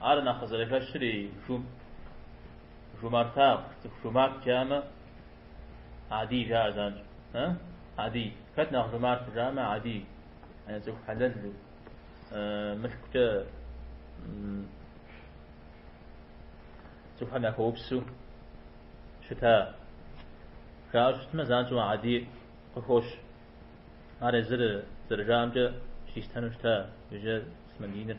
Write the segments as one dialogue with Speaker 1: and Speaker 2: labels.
Speaker 1: Ар нэхъ къызэрыхэщыр и жум, жумартагъ, цӏыху жумарт жамэ, Адий жаӏэ занщ. Э? Адий. Хэт нэхъ жумарт жамэ, Адий. Э, цӏыху хьэлэлу. Э, мылъкукӏэ цӏыхухэм яхуэупсу щыта. Жаӏэ щытмэ, занщӏэу Адий къыхощ. Ар езыр зэрыжаӏэмкӏэ чристану щыта, иужькӏэ ислъам диныр.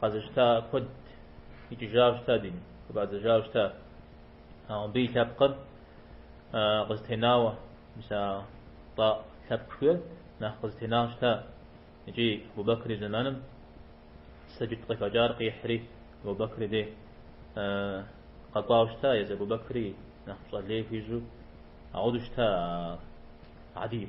Speaker 1: Къэзыщта куэд икӏыжауэ щыта дин, къыбадзэжауэ щыта. Ауэ мыбы и лъэпкъыр къызэтенауэ, мис а Тӏай лъэпкъ жиӏэр нэхъ къызэтенауэ щыта. Икӏи Абу-Бэкыр и зэманым сэджыт къыхэкӏар къихьри, Абу-Бэкыр дей къэкӏуауэ щыта, езы Абу-Бэкыри нэхъ пщӏэ лей хуищӏу ауду щыта ар Адий.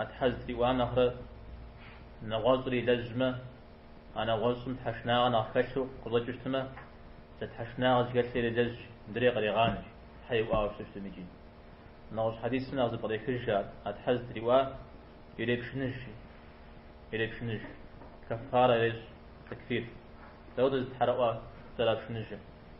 Speaker 1: А Тхьэ зытриӏуам нэхърэ нэгъуэщӏыр илэжьмэ, а нэгъуэщӏым тхьэшынагъэ нэхъ хэлъу къыщӏэкӏыщтмэ, зэ тхьэшынагъэ зыхэлъыр илэжьщ, мыдрей кърегъанэщ, Тхьэ иӏуауэ щыщтмикӏи. Нэгъуэщӏ хьэдисым нэхъ зэпкърехыж ар, А Тхьэ зытриӏуа ирепшыныжщи, ирепшыныж, кэффарэ ирещӏ, текфир. Дауда зы тхьэрыӏуэ зэрапшыныжыр?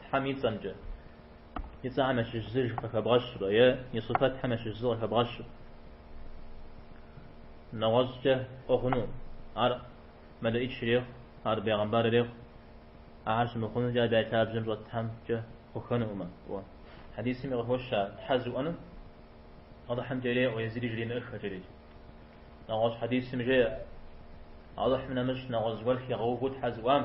Speaker 1: Тхьэм и цӏэмкӏэ. И цӏэхэм ящыщ зыр къыхэбгъэщурэ е и сыфэтхэм ящыщ зыр къыхэбгъэщу. Нэгъуэщӏкӏэ пӏуэ хъуну. Ар мэлыӏич рехъу, ар бегъэмбар рехъу. Ахэр щымыхъунукӏэ абы я лъабжьэм щӏэтхэмкӏэ хъухэнукъым. Уэ. Хьэдисми къыхощ Тхьэ зыӏуэну Алыхьымкӏэ реӏуэ е зыри жремыӏыххэ жери. Нэгъуэщӏ хьэдисым жеӏэ Алыхьым нэмыщӏ нэгъуэщӏ гуэр хигъэувэу Тхьэ зыӏуам,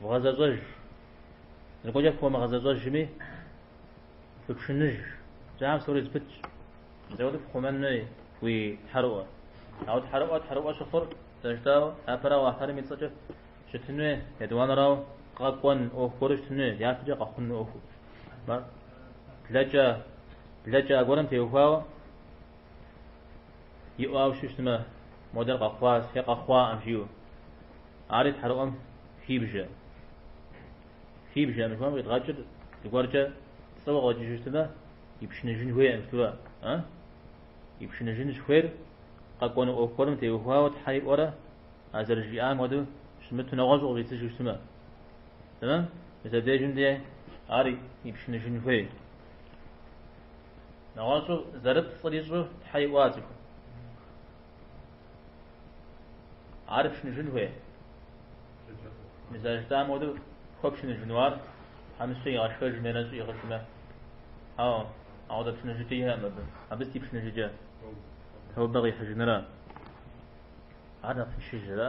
Speaker 1: Вгъэзэщӏэж. Зыгуэркӏэ фхуэмыгъэзэщӏэжми, фыпшыныж. Жьам псори зэпытщ. Зэуэ пхъумэн хуей уи тхьэрыӏуэ. Ауэ тхьэрыӏуэ тхьэрыӏуэ щыхъур зэрыжытӏауэ, япэрауэ Алыхьым и цӏэкӏэ щытын хуей, етӏуанэрауэ къэкӏуэн ӏуэху гуэру щытын хуей, япэкӏэ къэхъун ӏуэху. Блэкӏа, блэкӏа гуэрым теухуауэ, Иӏуауэ щыщтмэ, модэр къэхъуащ е къэхъуаӏым жиӏэу. Ари тхьэрыӏуэм хибжэ. Хибжэ мыхуэм къидгъэкӏыр зыгуэркӏэ пцӏыуэ къэкӏыжыщтмэ, ипшыныжын хуейкъым щытуэ, а? Ипшыныжын щыхуейр къэкӏуэну ӏуэху гуэрым теухуауэ Тхьэр иӏуэрэ, а зэрыжиӏам хуэдэу щымыту нэгъуэщӏу къыщӏидзыжу щытмэ. Тэмэм, мис абдежым де ар ипшыныжын хуей. Нэгъуэщӏу зэрыпцӏыр ищӏэу тхьэ иӏуа цӏыхум. Ар пшыныжын хуей. Мис а жытӏам хуэдэу хуэпшыныжыну ар тхьэмыщкӏэ игъэшхэжмэ е нэщӏ иӏыгъыжмэ. Ау, апхуэдэ пшыныжыкӏэ иӏэӏым абы. Абы сыт и пшыныжыкӏэ. Таубэ къихьыжынра. Ар нэхъ тыншыжрэ?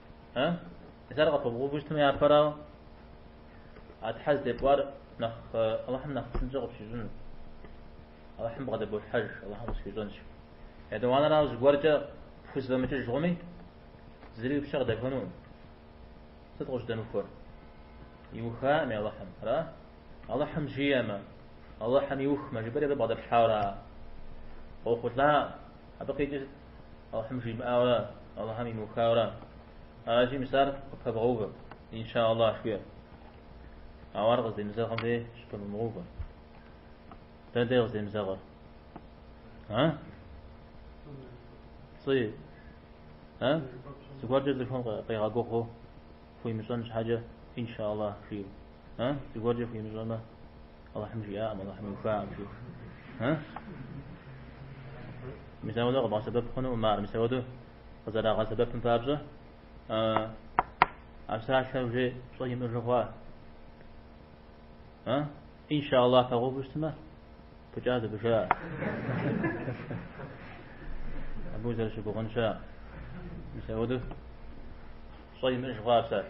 Speaker 1: Э? Мис ар къыпыбгъэувэу щытмэ япэрау? А Тхьэ здепӏуар нэхъ э, Аллахьым нэхъ псынкӏэ къыпщищӏыну. Аллахьым бгъэдэболъхьэж, Аллахьым къысхуищӏэнщ. Етӏуанэрау зыгуэркӏэ пхузэфӏэмыкӏыж хъуми, зыри уи пщэ къыдэхуэнукъым. Сыт къыщӏыдэмыхуэр? Иухаӏыми Аллахьым, ара? Аллахьым жиӏэмэ, Аллахьым иухмэ, жыпӏэри абы бгъэдэплъхьауэ ара? Къохъулӏа, абы къикӏи Аллахьым жимыӏауэ, Аллахьым имыухауэ. Аращи, мис ар къыпыбгъэувэ. Инша Аллах жыӏэ. Ауэ ар къыздемызэгъым де щыпыумыгъэувэ. Дэ де къыздемызэгъыр. А? Пцӏы. А? Зыгуэркӏэ цӏыхур къегъэгугъэ хуимыщӏэн щхьэкӏэ, инша Аллах жиӏэ. А? Зыгуэркӏэ хуимыщӏэмэ, Аллахьым жиӏакъым, Аллахьым иухакъым жиӏэу. А? Мисауэдэ къыбгъэсэбэп хъунуӏым, ар мисауэдэ къызэрагъэсэбэпым папщӏэ, а псалъэр уже пщӏэ имыӏэжу хъуа? А? Иншаллах пыбгъэувэу щытмэ, пыкӏа зыбыжа. Абы зэрыщыгугъын щыӏэ. Мисауэдэ пщӏэ имыӏэж хъуа псалъ.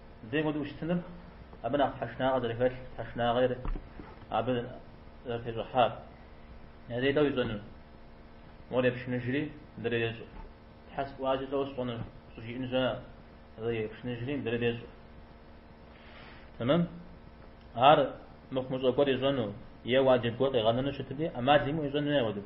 Speaker 1: Зэи хуэдэу щытыныр абы нэхъ тхьэшынагъэ зэрыхэлъ, тхьэшынагъэр абы зэрытещӏыхьар. Зэи дауэ ищӏэну. Мор епшыныжри, мыдрейр ещӏэ. Тхьэ сӏуащи тӏэу сщӏэныр, щӏыжиӏэн щыӏэ? Зэи епшыныжри, мыдрейр ещӏэ. Тэмэм? Ар мыхъумыщӏэ гуэр ищӏэну е уаджиб гуэр къигъэнэну щытми, ӏэмал имыӏэу ищӏэну ауэдэу.